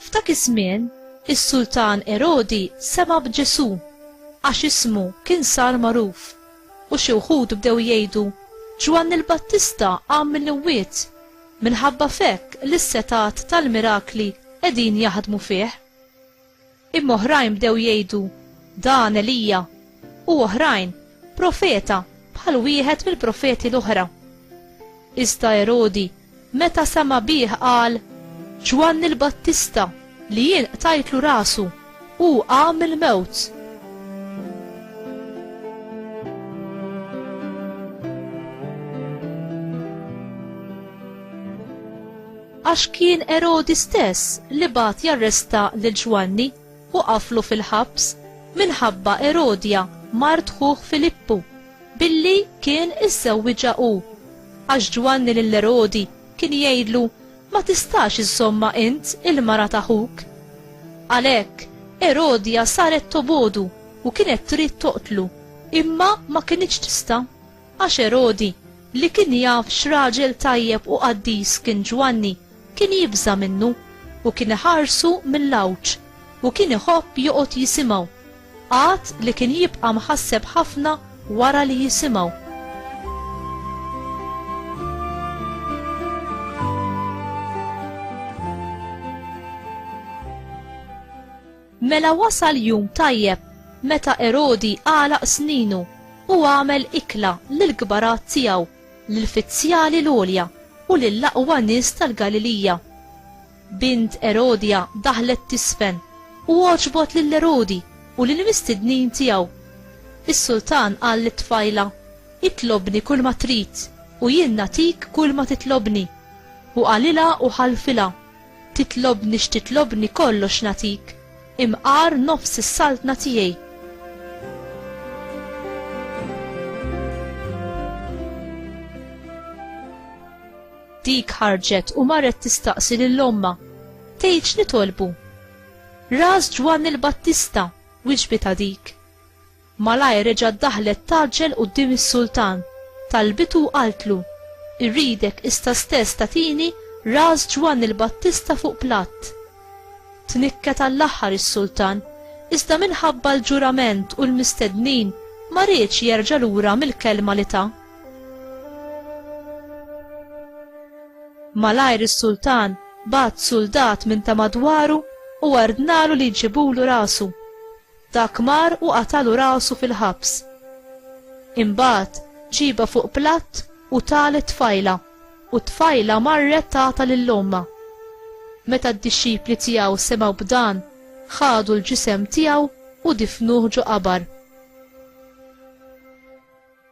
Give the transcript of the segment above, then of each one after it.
F'dak iż-żmien, is-Sultan Erodi sema' b'Ġesù għax ismu kien sar magħruf u xi wħud bdew jgħidu, Ġwanni l-Battista qam mill-imwiet, Minħabba f'hekk li s-setgħat tal-mirakli qegħdin jaħdmu fih. Imma oħrajn bdew jgħidu, Dan Elija, u oħrajn, Profeta bħal wieħed mill-profeti l-oħra. Iżda Erodi, meta sema' bih qal, Ġwanni l-Battista! Li jien qtajtlu rasu, hu qam mill-mewt. Għax kien Erodi stess li bagħat jarresta lil Ġwanni u qaflu fil-ħabs minħabba Erodja mart ħuh Filippu billi kien iżżewwiġha hu. Għax Ġwanni lil Erodi kien jgħidlu Ma tistax iżżommha int, il-mara ta' ħuk. Għalhekk, Erodja saret tobogħdu u kienet trid toqtlu, imma ma kinitx tista', għax Erodi, li kien jaf x'raġel tajjeb u qaddis kien Ġwanni, kien jibża' minnu, u kien iħarsu mill-għawġ, u kien iħobb joqgħod jisimgħu. Għad li kien jibqa' mħasseb ħafna wara li jisimgħu. Mela wasal jum tajjeb meta Erodi għalaq sninu u għamel ikla lil kbarat tiegħu, lil fizzjali l-għolja u lil aqwa nies tal-Galilija. Bint Erodja daħlet tiżfen, u għoġbot lil Erodi u lill-mistednin tiegħu. Is-sultan qal lit-tfajla, Itlobni kulma trid, u jien nagħtik kulma titlobni. U qalilha u ħalfilha, Titlobni x'titlobni kollox nagħtik, imqar nofs is-saltna tiegħi. Dik ħarġet u marret tistaqsi lil ommha, tgħid x'nitolbu. Ras Ġwanni l-Battista, wiġbitha dik. Malajr reġgħet daħlet tgħaġġel quddiem is-sultan, talbitu u qaltlu, Irridek issa stess tagħtini ras Ġwanni l-Battista fuq platt. Tnikket għall-aħħar is-sultan, iżda minħabba l-ġurament u l-mistednin ma riedx jerġa' lura mill-kelma li ta. Malajr is-sultan bagħat suldat minn ta' madwaru u ordnalu li jġibulu rasu. Dak mar u qatalu rasu fil-ħabs. Imbagħad ġiebha fuq platt u tah lit-tfajla, u t-tfajla marret tagħtha lil ommha. Meta d-dixxipli tiegħu semgħu b'dan, ħadu l-ġisem tiegħu u difnuh ġo qabar.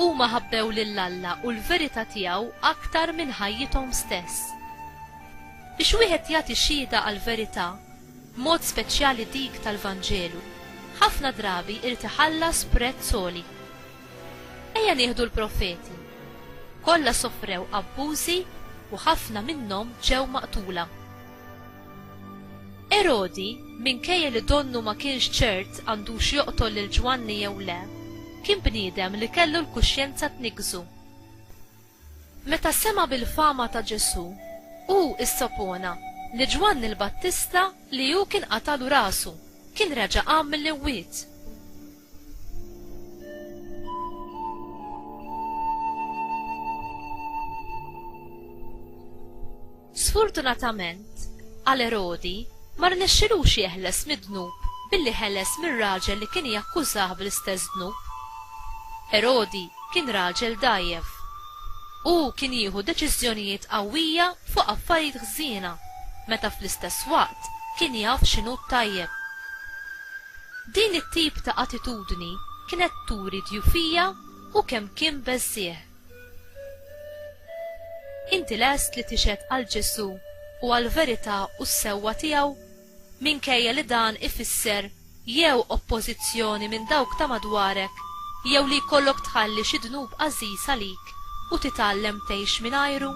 Huma ħabbew lil Alla u l-verità tiegħu aktar minn ħajjithom stess. Biex wieħed jagħti xhieda għall-verità, b'mod speċjali dik tal-Vanġelu, ħafna drabi jrid iħallas prezz għoli. Ejja nieħdu l-profeti. Kollha sofrew abbużi u ħafna minnhom ġew maqtula. Erodi, minkejja li donnu ma kienx ċert għandux joqtol lil Ġwanni jew le, kien bniedem li kellu l-kuxjenza tniggżu. Meta sema' bil-fama ta' Ġesù, hu issopona li Ġwanni l-Battista li hu kien qatalu rasu, kien reġa' qam mill-imwiet. Sfortunatament għal Erodi, ma rnexxilux jeħles mid-dnub billi ħeles mir-raġel li kien jakkużah bl-istess dnub. Erodi kien raġel dgħajjef. Hu kien jieħu deċiżjonijiet qawwija fuq affarijiet ħżiena meta fl-istess waqt kien jaf x'inhu t-tajjeb. Din it-tip ta' attitudni kienet turi djufija u kemm kien beżżiegħ. Inti lest li tixhed għal Ġesù u għall-verità u s-sewwa tiegħu, minkejja li dan ifisser jew oppożizzjoni minn dawk ta' madwarek jew li jkollok tħalli xi dnub għażiż għalik u titgħallem tgħix mingħajru?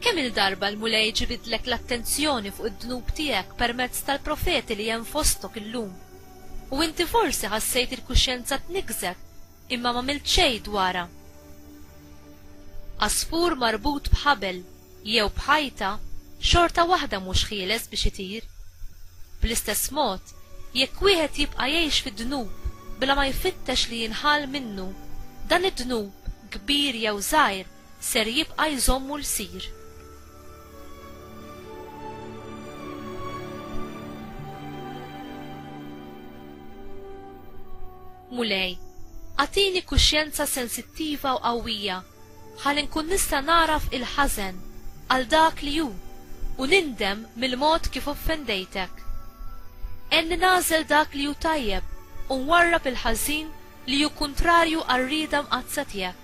Kemm-il darba l-Mulej ġibidlek l-attenzjoni fuq id-dnub tiegħek permezz tal-profeti li hemm fostok illum? U inti forsi ħassejt il-kuxjenza tniggżek imma m'għamilt xejn dwarha. Għasfur marbut b'ħabel jew b'ħajta xorta waħda mhux ħieles biex itir. Bl-istess mod, jekk wieħed jibqa' jgħix fid-dnub bla ma jfittex li jinħall minnu, dan id-dnub, kbir jew żgħir, ser jibqa' jżommu lsir. Mulej, agħtini kuxjenza sensittiva u qawwija ħalli nkun nista' nagħraf il-ħażen għal dak li hu u nindem mill-mod kif offendejtek. Għenni nagħżel dak li hu tajjeb u nwarrab il-ħażin li hu kuntrarju għar-rieda mqaddsa tiegħek.